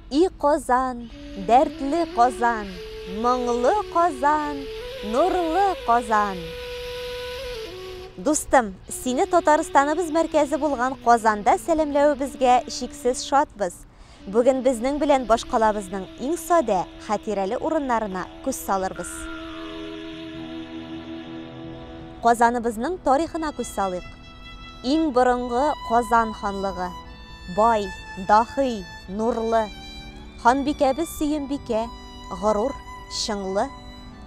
И Казан, дәртле Казан, моңлы Казан, нурлы Казан. Дустым, сине Татарстаныбыз мәркәзе булган Казанда сәламләвебезгә чиксез шатбыз. Бүген безнең белән башкалабызның иң садә, хәтирәле урыннарына күз салырбыз. Казаныбызның тарихына күз салыйк. Иң борынгы Казан ханлыгы. Бай, дахый, нурлы. Ханбикәбез Сөембикә, горур, чыңлы,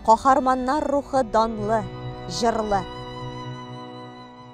каһарманнар рухы данлы, җырлы.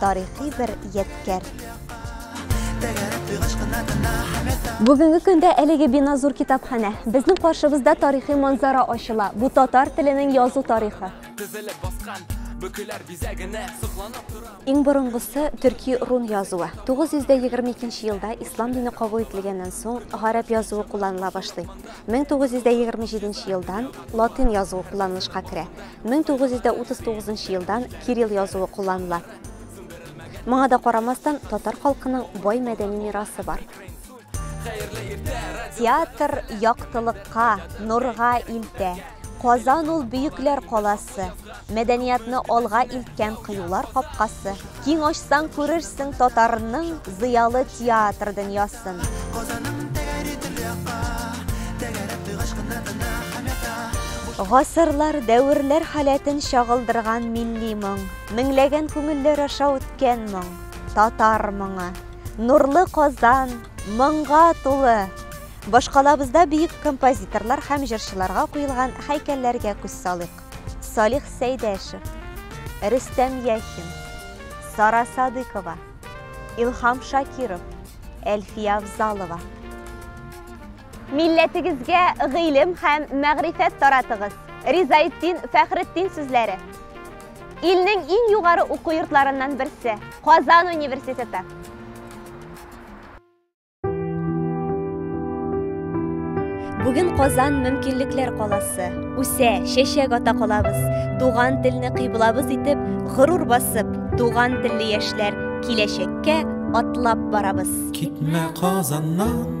тарихи бер ядкәр. Бүгенге көндә әлеге бина зур китапханә. Безнең каршыбызда тарихи манзара ачыла. Бу татар теленең язу тарихы. Иң борынгысы төрки рун язуы. 922 елда ислам дине кабул ителгәннән соң гарәп язуы кулланыла башлый. 1927 елдан латин язуы кулланылышка керә. 1939 нчы елдан кирилл язуы кулланыла. Моңа да карамастан, татар халкының бай мәдәни мирасы бар. Театр яктылыкка, нурга илтә. Казан ул бөекләр каласы, мәдәниятны алга илткән кыюлар капкасы. Киң ачсаң күрерсең татарның зыялы театр дөньясын. Казаның тәгәри төрле якка, тәгәрәп туй гашкына тына һәм ята. Гасырлар, дәверләр халәтен чагылдырган милли моң, меңләгән күңелләр аша үткән моң, татар моңы. Нурлы Казан, моңга тулы! Башкалабызда бөек композиторлар һәм җырчыларга куелган һәйкәлләргә күз салыйк. Салих Сәйдәшев, Рөстәм Яхин, Сара Садыкова, Илхам Шакиров, Әлфия Авзалова. Милләтегезгә гыйлем һәм мәгърифәт таратыгыз. Ризаетдин Фәхретдин сүзләре. Илнең иң югары уку йортларыннан берсе, Казан университеты. Бүген Казан мөмкинлекләр каласы. Үсә, чәчәк ата калабыз. Туган телне кыйблабыз итеп, горур басып, туган телле яшьләр киләчәккә атлап барабыз. Китмә Казаннан.